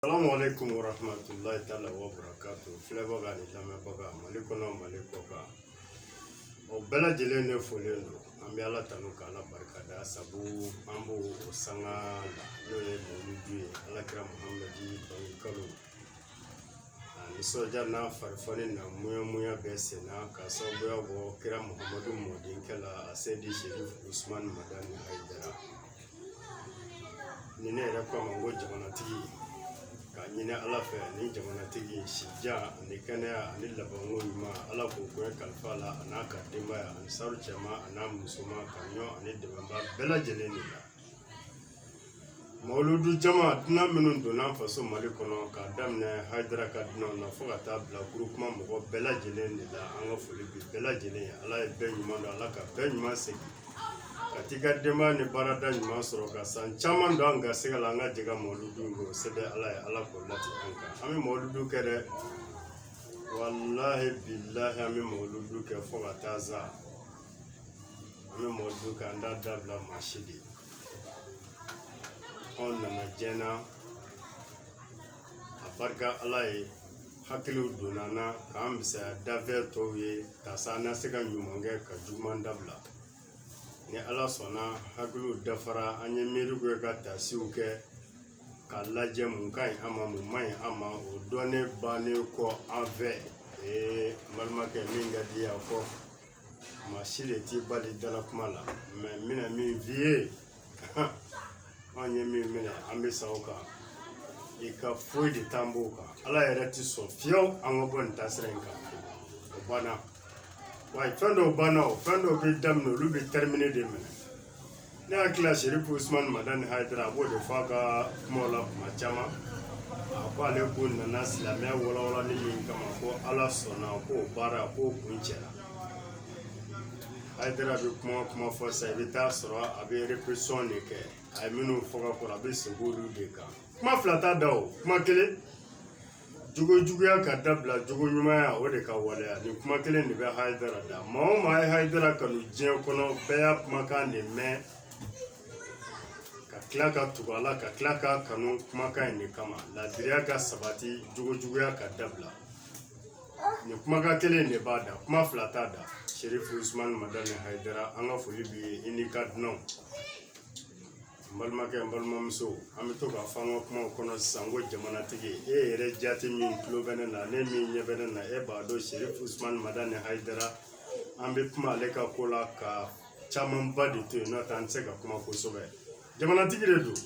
Salamu alaikum warahmatullahi taala wabarakatu filɛbaga ani lamɛnbaga mali kɔnɔ mali kɔkan o bɛɛ lajɛlen ne folen don an bɛ ala tanu ka ala barika da sabu an b'o sanga la n'o ye mawuludu ye ala kira muhamadi bange kalo a nisɔndiya n'a farifoni n'a muyamuya bɛɛ senna ka sababuya bɔ kira muhamadu mɔdenkɛ la aseyidi serifu usumani madani hayidara ni ne yɛrɛ ko a ma ko jamanatigi k'a ɲini ala fɛ ni jamanatigi sijan ani kɛnɛya ani labanko ɲuman ala k'o koɲɛ kalifa a la a n'a ka denbaya ansaru cɛman a n'a musoman ka ɲɔ ani dɛmɛba bɛɛ lajɛlen de la mawuludu jama dunan minnu donna faso mali kɔnɔ k'a daminɛ haidara ka dunanw na fo ka taa bila groupement mɔgɔ bɛɛ lajɛlen de la an ka foli bi bɛɛ lajɛlen ye ala ye bɛɛ ɲuman don ala ka bɛɛ ɲuman segin ka t'i ka denbaya ni baarada ɲuman sɔrɔ ka san caman don an garisigɛ la an ka jɛ ka mɔludu kɛ o se bɛ ala ye ala k'o lati an kan an bɛ mɔludu kɛ dɛ walahi bilahi an bɛ mɔludu kɛ fo ka taa sa an bɛ mɔludu kɛ an t'a dabila maa si de anw nana jɛna a barika ala ye hakiliw donna an na k'an bɛ saya dafɛ tɔw ye ka sa an na se ka ɲuman kɛ ka juguman dabila ni ala sɔnna hakiliw dafara an ye miiriw kɛ ka taasiw kɛ k'a lajɛ mun ka ɲi an ma mun man ɲi an ma o dɔnnen bannen kɔ an fɛ ee n balimakɛ min ka di yan fɔ maa si de t'i bali dala kuma la mɛ n bɛna min f'i ye anw ye min minɛ an bɛ sa o kan i ka foyi de t'an b'o kan ala yɛrɛ ti sɔn fiyewu an ka bɔ nin taasira in kan o banna wa fɛn dɔw banna o fɛn dɔw bɛ daminɛ olu bɛ tɛrimine de minɛ ne hakili la serifu usumani madani hayidara a b'o de fɔ a ka kumaw la kuma caman a ko ale ko nana silamɛya walawalali min kama ko ala sɔnna k'o baara k'o kuncɛra hayidara bɛ kuma o kuma fɔ sisan i bɛ taa sɔrɔ a bɛ repetition de kɛ a ye minnu fɔ ka kɔrɔ a bɛ segin olu de kan kuma fila t'a da o kuma kelen jogo juguya ka dabila jogo ɲumanya o de ka waleya nin kuma kelen de bɛ hayidara da maa o maa ye hayidara kanu diɲɛ kɔnɔ bɛɛ y'a kumakan de mɛn ka tila ka tugu a la ka tila k'a kanu kumakan in de kama laadiriya ka sabati jogo juguya ka dabila nin kumakan kelen de b'a da kuma fila t'a da serifu usumani madani hayidara an ka foli b'i ye i n'i ka dunanw n balimakɛ n balimamuso an bɛ to k'a fɔ an ka kumaw kɔnɔ sisan ko jamanatigi e yɛrɛ jati min tulo bɛ ne na n'e min ɲɛ bɛ ne na e b'a dɔn serifu usumani madani hayidara an bɛ kuma ale ka ko la ka camanba de to yen n'o tɛ an tɛ se ka kuma kosɛbɛ jamanatigi de don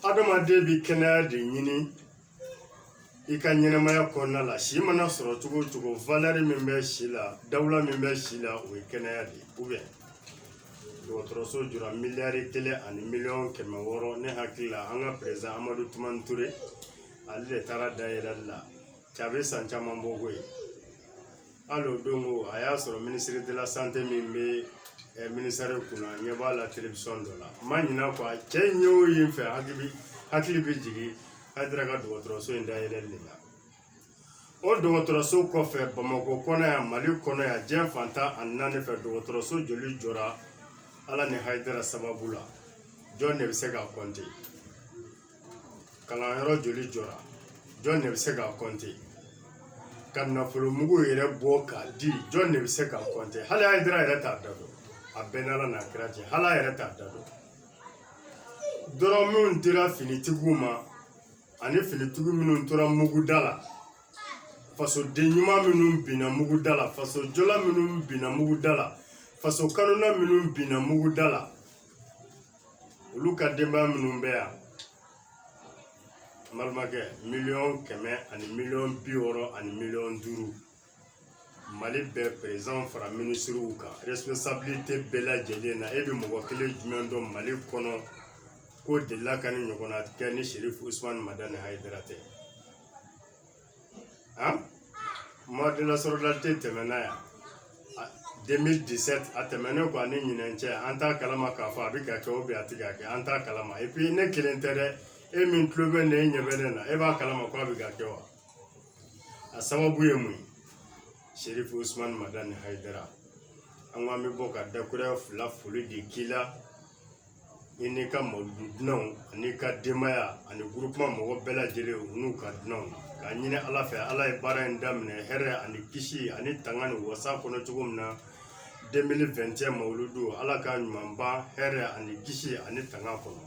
adamaden bɛ kɛnɛya de ɲini i ka ɲɛnamaya kɔnɔna la si mana sɔrɔ cogo o cogo valɛri min bɛ si la dawula min bɛ si la o ye kɛnɛya de ye dɔgɔtɔrɔso jɔra miliyari kelen ani miliyɔn kɛmɛ wɔɔrɔ ne hakili la an ka perezidan amadu tumani ture ale de taara dayɛlɛli la cɛ a bɛ san caman bɔ koyi hali o don ko a y'a sɔrɔ minisiri de la sante min bɛ minisɛri kunna ɲɛ b'a la telewisɔn dɔ la n ma ɲinɛ kɔ a cɛ in ye o ye n fɛ hakili hakili bɛ jigin hayidara ka dɔgɔtɔrɔso in dayɛlɛli la o dɔgɔtɔrɔso kɔfɛ bamakɔ kɔnɔ yan mali kɔnɔ yan diɲɛ fan tan ani naani fɛ dɔgɔtɔrɔso joli jɔra ala ni hayidara sababu la jɔn de bɛ se k'a kɔnte kalanyɔrɔ joli jɔra jɔn de bɛ se k'a kɔnte ka nafolo mugu yɛrɛ bɔ k'a di jɔn de bɛ se k'a kɔnte hayidara yɛrɛ t'a da dɔn a b'a n'ala n'a kira cɛ hali a yɛrɛ t'a da dɔn dɔrɔmɛw dira finitigiw ma ani finitigi minnu tora muguda la fasoden ɲuman minnu binna muguda la fasojɔla minnu binna muguda la faso kanuna minnu binna muguda la olu ka denbaya minnu bɛ yan n balimakɛ miliyɔn kɛmɛ ani miliyɔn bi wɔɔrɔ ani miliyɔn duuru mali bɛɛ perezidan fara minisiriw kan resipɔnsabilite bɛɛ lajɛlen na e bɛ mɔgɔ kelen jumɛn dɔn mali kɔnɔ k'o delila ka nin ɲɔgɔnna kɛ ni serifu usumani madani hayidara tɛ mois de la solidarité tɛmɛna yan 2017 a tɛmɛnen kɔ ani ɲinan cɛ an t'a kalama k'a fɔ a bɛ ka kɛ o bɛ a tɛ ka kɛ an t'a kalama epi ne kelen tɛ dɛ e min tulo bɛ ne ɲɛ bɛ ne na e b'a kalama ko a bɛ ka kɛ wa a sababu ye mun ye serifu usumani madani hayidara an ko an bɛ bɔ ka dakuruɲɛ fila foli de k'i la i n'i ka mawuludu dunanw an'i ka denbaya ani gurupuman mɔgɔ bɛɛ lajɛlen u n'u ka dunanw k'a ɲini ala fɛ ala ye baara in daminɛ hɛrɛ ani kisi ani tanga ni wasa kɔnɔ cogo min na 2021 mawuludu ala k'a ɲuman ban hɛrɛ ani kisi ani tanga kɔnɔ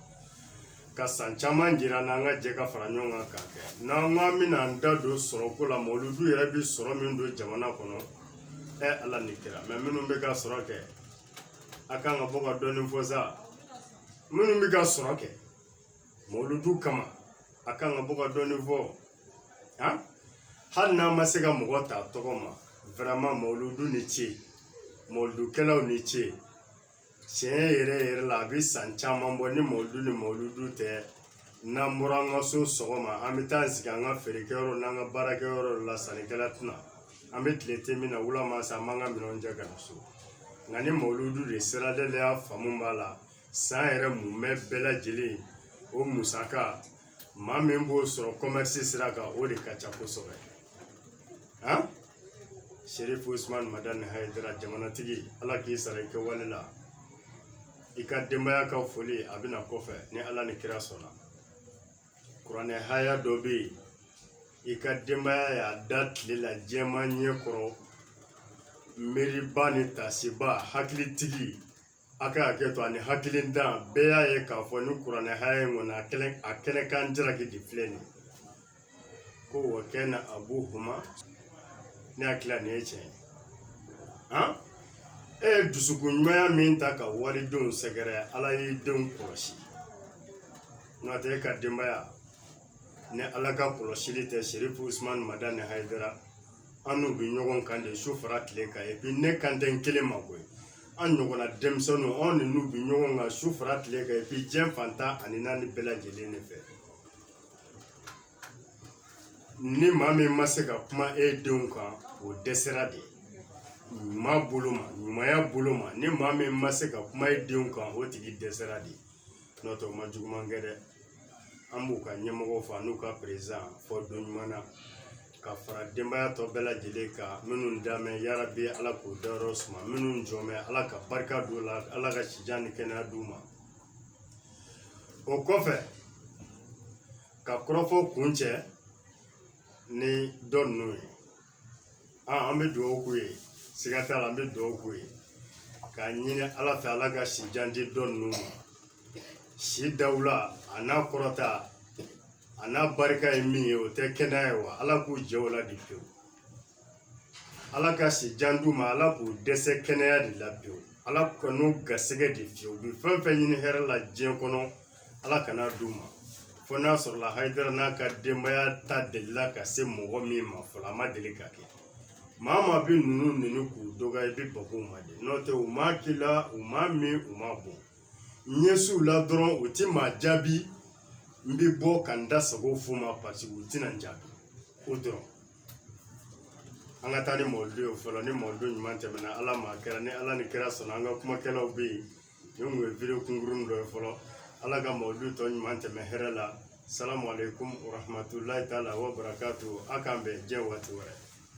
ka san caman jira n'an ka jɛ ka fara ɲɔgɔn kan k'a kɛ n'an ko an bɛna an da don sɔrɔko la mawuludu yɛrɛ bɛ sɔrɔ min don jamana kɔnɔ ɛ ala ni kira mɛ minnu bɛ ka sɔrɔ kɛ a kan ka bɔ ka dɔɔnin fɔ sa minnu bɛ ka sɔrɔ kɛ mɔludu kama a kan ka bɔ ka dɔɔnin fɔ han hali n'an ma se ka mɔgɔ ta tɔgɔ ma vraiment mɔludu ni ce mɔludukɛlaw ni ce tiɲɛ yɛrɛ yɛrɛ la a bɛ san caman bɔ ni mɔludu ni mɔludu tɛ n'an bɔra an ka so sɔgɔma an bɛ taa sigi an ka feerekɛyɔrɔ n'an ka baarakɛyɔrɔ la sannikɛla tɛ na an bɛ tile tɛ min na wula ma sa an b'an ka minɛnw cɛ ka na so nka ni mawuludu de sera da la i y'a faamu b'a la san yɛrɛ mumɛ bɛɛ lajɛlen o musaka maa min b'o sɔrɔ kɔmɛrisi sira kan o de ka ca kosɛbɛ han serifu usumani madani hayidara jamanatigi ala k'i sara i kɛwale la i ka denbaya ka foli a bɛna kɔfɛ ni ala ni kira sɔnna kuranɛ haya dɔ bɛ yen i ka denbaya y'a da tile la jama ɲɛ kɔrɔ miiribaa ni taasibaa hakilitigi a ka hakɛ to ani hakilintan bɛɛ y'a ye k'a fɔ ni kuranɛ haya in kɔni a kɛnɛ a kɛnɛ kan jalaki de filɛ nin ye ko wa kana abuhuma ne hakili la nin ye tiɲɛ ye e ye dusukun ɲumanya min ta ka walidenw sɛgɛrɛ ala y'e denw kɔlɔsi n'o tɛ e ka denbaya ni ala ka kɔlɔsili tɛ serifu usumani madani hayidara an n'u bɛ ɲɔgɔn kan de su fara tile kan epi ne kan tɛ n kelen ma koyi an ɲɔgɔnna denmisɛnninw anw ni n'u bɛ ɲɔgɔn kan su fara tile kan epi diɲɛ fan tan ani naani bɛɛ lajɛlen de fɛ ni maa min ma se ka kuma e denw kan o dɛsɛra de ɲuman bolo ma ɲumanya bolo ma ni maa min ma se ka kuma e denw kan o tigi dɛsɛra de n'o tɛ o ma juguman kɛ dɛ an b'u ka ɲɛmɔgɔw fo n'u ka perezidan fo don ɲuman na ka fara denbaya tɔ bɛɛ lajɛlen kan minnu dalen bɛ yarabi ala k'u dayɔrɔ suma minnu jɔlen bɛ ala ka barika don u la ala ka si jan ni kɛnɛya d'u ma o kɔfɛ ka kɔrɔfɔ kuncɛ ni dɔ ninnu ye an bɛ dugawu k'u ye siga t'a la an bɛ dugawu k'u ye k'a ɲini ala fɛ ala ka si jan di dɔ ninnu ma si dawula an'a kɔrɔta an'a barika ye min ye o tɛ kɛnɛya ye wa ala k'u jɛ o la de pewu ala ka si jan d'u ma ala k'u dɛsɛ kɛnɛya de la pewu ala kan'u garisɛgɛ de fiyɛ u bɛ fɛn fɛn ɲini hɛrɛ la diɲɛ kɔnɔ ala kan'a d'u ma fo n'a sɔrɔla hayidara n'a ka denbaya da delila ka se mɔgɔ min ma fɔlɔ a ma deli ka kɛ maa maa bɛ ninnu nɛni k'u dɔgɔya i bɛ bag'u ma de n'o tɛ u m'a k'i la u m'a min u m'a bɔn ɲɛsiw la dɔrɔn u tɛ maa jaabi n bɛ bɔ ka n da sago f'u ma paseke u tɛna n jaabi o dɔrɔn an ka taa ni mawlidi ye fɔlɔ ni mawlidi ɲuman tɛmɛna ala ma kɛra ni ala ni kira sɔnna an ka kumakɛlaw bɛ yen nin kun ye vidéo kunkuruni dɔ ye fɔlɔ ala ka mawlidi tɔ ɲuman tɛmɛ hɛrɛ la salamu aleykum warahmatulahi taala wa barakatu a k'an bɛn diɲɛ waati wɛrɛ